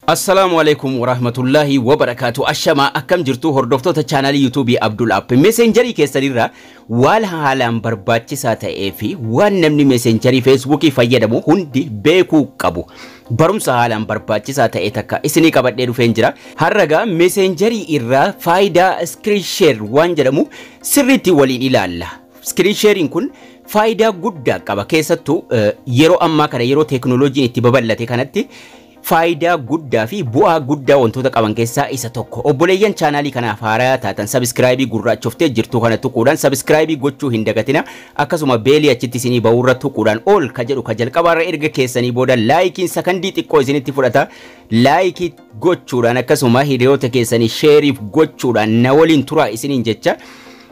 Assalaamu Aleeykum Waraahmatullaahi Wabarakaatu Ashamaa akkam jirtu hordoftoota chaanaalii yuutuubii Abdul App meseenjarii keessanirra waan haalaan barbaachisaa ta'ee fi waan namni meseenjarii feesbuukii fayyadamu hundi beekuu qabu barumsa haalaan barbaachisaa ta'e takka isinii qabadhee dhufeen jira harragaa meseenjarii irraa faayidaa iskiriin sheer waan jedhamu sirriitti waliin ilaalla iskiriin sheeriin kun faayidaa guddaa qaba keessattuu eh, yeroo ammaa kana yeroo teeknooloojiin itti babal'ate kanatti faayidaa guddaa fi bu'aa guddaa wantoota qaban keessaa isa tokko. Obboleeyyan chaanaalii kanaaf haaraya taatan sabiskiraayibii gurraachoftee jirtuu kana tuquudhaan sabiskiraayibii gochuu hin dagatina. Akkasuma beelii achitti isinii ba'uurra tuquudhaan ol ka jedhu ka jalqabaarra erga keessanii booda laayikiin sakandii xiqqoo isinitti fudhata. Laayikii gochuudhaan akkasuma hiriyoota keessanii sheeriif gochuudhaan na waliin turaa isiniin jecha.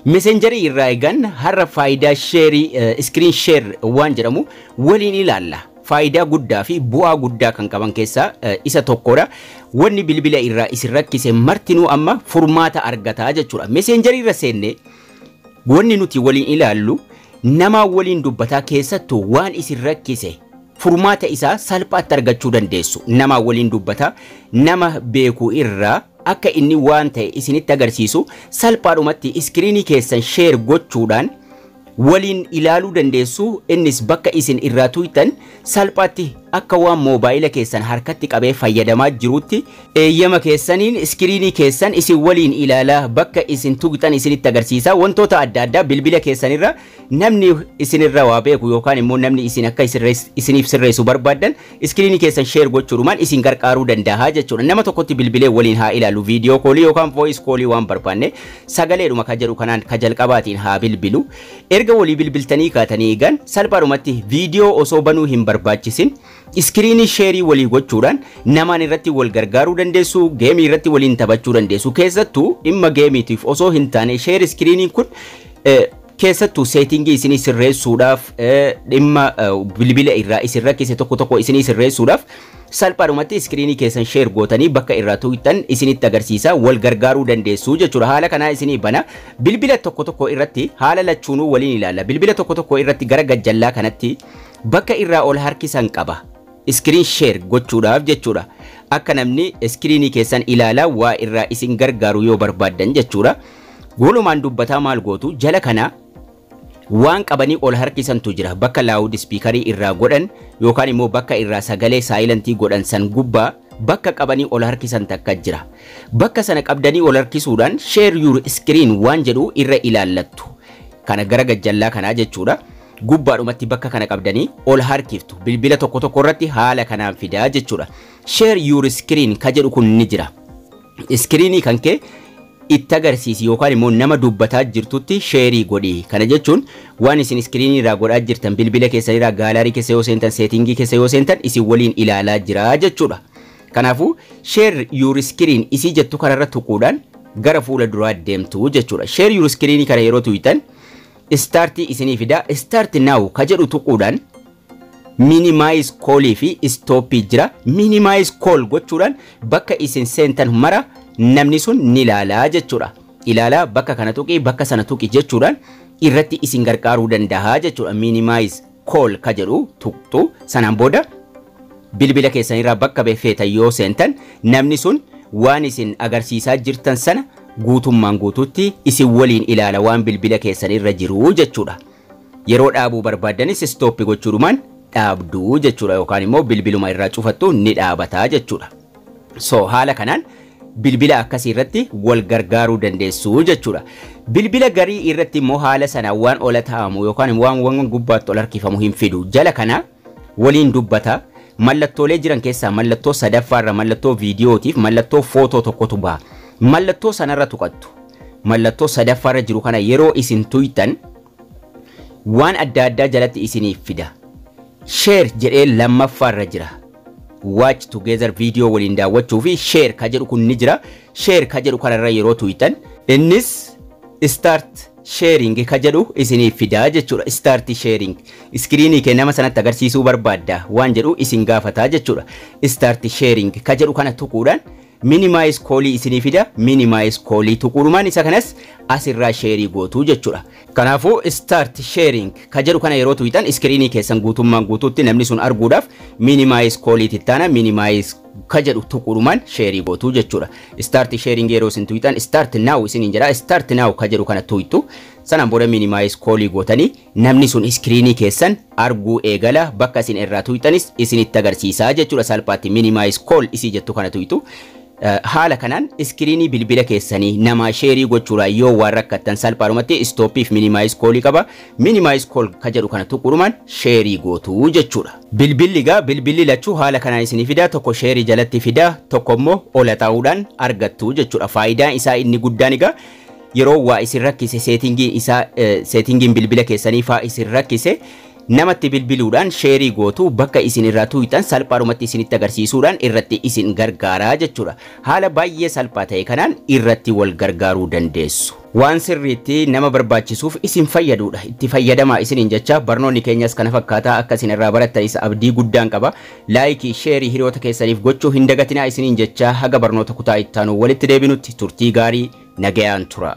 Meseenjarii irraa eegan har'a faayidaa sheerii iskiriin sheer waan jedhamu waliin ilaalla. faayidaa guddaa fi bu'aa guddaa kan qaban keessaa eh, isa tokkodha. Wanni bilbila irraa isin rakkise martinuu amma furmaata argataa jechuudha. Meseenjarii irra seenne wanni nuti waliin ilaallu namaa waliin dubbataa keessattuu waan isin rakkise furmaata isaa salphaatti argachuu dandeessu. Namaa waliin dubbataa nama beeku irraa akka inni waan ta'e isinitti agarsiisu salphaadhumatti iskiriinii keessan sheer gochuudhaan waliin ilaaluu dandeessu, innis bakka isin irraa tuuytan salphaatti akka waan moobaayila keessan harkatti qabee fayyadamaa jiruutti, eeyyama keessaniin iskiriinii keessan isin waliin ilaala, bakka isin tuuytan isinitti agarsiisa, wantoota adda addaa bilbila keessan irra namni isin irra waa beeku yookaan immoo namni isin akka isiniif sirreessu barbaaddan, Iskiriinii keessan share gochuudhumaan isin garqaaruu dandaaha jechuudha. Nama tokkotti bilbilee waliin haa ilaallu viidiyoo koolii yookaan voice koolii waan barbaanne sagaleedhuma ka jedhu kanaan ka jalqabaatiin haa bilbilu. Erga walii bilbiltanii kaatanii eegan salphaadhumatti viidiyoo osoo banuu hin barbaachisin iskiriinii sheerii walii gochuudhaan namaan irratti wal gargaaruu dandeessu, geemii irratti waliin taphachuu dandeessu. Keessattuu dhimma geemiitiif osoo hin taane sheer iskiriiniin kun Keessattuu seetingii isinii sirreessuudhaaf dhimma bilbila irraa isin rakkise tokko tokko isinii sirreessuudhaaf salphaadhumatti iskiriinii keessan sheer gootanii bakka irraa tuqxan isinitti agarsiisa wal gargaaruu dandeessuu jechuudha haala kanaa isinii bana bilbila tokko tokko irratti haala lachuunuu waliin ilaalla bilbila tokko tokko irratti gara gajjallaa kanatti bakka irraa ol harkisan qaba iskiriin sheer gochuudhaaf jechuudha akka namni iskiriinii keessan ilaalaa waa irraa isin gargaaru yoo barbaaddan jechuudha Walumaan dubbataa maal gootu jala kana waan qabanii ol harkisantu jira bakka laawud spiikarii irraa godhan yookaan immoo bakka irraa sagalee saayilantii godhan san gubbaa bakka qabanii ol harkisan takka jira bakka sana qabdanii ol harkisuudhaan share your screen waan jedhu irra ilaallattu kana gara gajjallaa kanaa jechuudha gubbaadhumatti bakka kana qabdanii ol harkiftu bilbila tokko tokko irratti haala kanaan fidaa jechuudha share your screen ka jedhu kun ni jira Iskiriinii kan kee itti agarsiisi yookaan immoo nama dubbataa jirtutti sheerii godhi. Kana jechuun waan isin iskiriinii irraa godhaa jirtan bilbila keessan irraa gaalaarii keessa yoo seentan seetingii keessa yoo seentan isin waliin ilaalaa jira jechuudha. Kanaafuu share your screen isii jettu kanarra tuquudhaan gara fuula duraa deemtu jechuudha. Share your screen kana yeroo tuqxan start isinii fida start now ka jedhu tuquudhaan Minimize call fi stop jira. Minimize call gochuudhaan bakka isin seentan mara namni sun ni laala jechuudha. Ilaala bakka kana tuqi bakka sana tuqi jechuudhaan irratti isin gargaaruu danda'a jechuudha. Minimize call ka jedhu tuqxu sanaan booda bilbila keessan irraa bakka feetan yoo seentan namni sun waan isin agarsiisaa jirtan sana guutummaan guutuutti isin waliin ilaala waan bilbila keessan irra jiru jechuudha. Yeroo dhaabuu barbaaddanis stop gochuudhumaan dhaabdu jechuudha yookaan immoo bilbiluma irraa cufattu ni dhaabata jechuudha. So haala kanaan bilbila akkasii irratti wal gargaaruu dandeessu jechuudha. Bilbila garii irratti immoo haala sana waan ola taa'amu yookaan waan waan gubbaatti ol harkifamu hin fidu. Jala kana waliin dubbata. Mallattoolee jiran keessaa mallattoo sadaffaa irra mallattoo viidiyootiif mallattoo footoo tokkotu baha. Mallattoo sanarra tuqattu. Mallattoo sadaffaa irra jiru kana yeroo isin tuyxan waan adda addaa jalatti isiniif fida. Share jedhee lammaffaa irra jira. Watch together viidiyoo waliin daawwachuu fi share ka jedhu kun ni jira. Share ka jedhu kanarra yeroo tuyxan innis start sharing ka jedhu isiniif fida jechuudha. Start sharing. Iskiriinii kee nama sanatti agarsiisuu barbaadda waan jedhu isin gaafata jechuudha. Start sharing ka jedhu kana tuquudhaan minimize koolii isinii fida. Minimize koolii tuquudhumaan isa kanas asirraa sheerii gootuu jechuudha. Kanaafuu start sharing ka jedhu kana yeroo tuqxan iskiriinii keessan guutummaan guutuutti namni sun arguudhaaf minimize koolii tittaana minimize ka jedhu tuquudhumaan sheerii gootu jechuudha. Start sharing yeroo isin tuyxan start now isiniin jedha start now ka jedhu kana tuyxu sanaan booda minimize koolii gootanii namni sun iskiriinii keessan arguu eegala bakka isin irraa tuyxanis isinitti agarsiisaa jechuudha salphaatti minimize call isii jettu kana tuyxu. Eh, Haala kanaan iskiriinii bilbila keessanii namaa sheerii gochuudhaan yoo waan rakkattan salphaadhumatti istooppiif minimize koolii qaba Minimize call ka jedhu kana tuquudhumaan sheerii gootu jechuudha. Bilbilli egaa bilbilli lachuu haala kanaan isinii fidaa tokko sheerii jalatti fidaa tokko immoo ola taa'uudhaan argattu jechuudha. Faayidaan isaa inni guddaan egaa yeroo waa isin rakkise seetingii isaa seetingiin bilbila keessanii faa isin rakkise namatti bilbiluudhaan sheerii gootu bakka isin irraa tuuyxan salphaadhumatti isinitti agarsiisuudhaan irratti isin gargaaraa jechuudha. Haala baay'ee salphaa ta'e kanaan irratti wal gargaaruu dandeessu. Waan sirriitti nama barbaachisuuf isin fayyaduudha. Itti fayyadamaa isiniin jecha barnoonni keenyas kana fakkaataa akka isin irraa barattanis abdii guddaan qaba. Laayikii, sheerii hiriyoota keessaniif gochuu hin dagatinaa isiniin jecha haga barnoota kutaa ittaanu walitti deebinutti turtii gaarii nagayaan tura.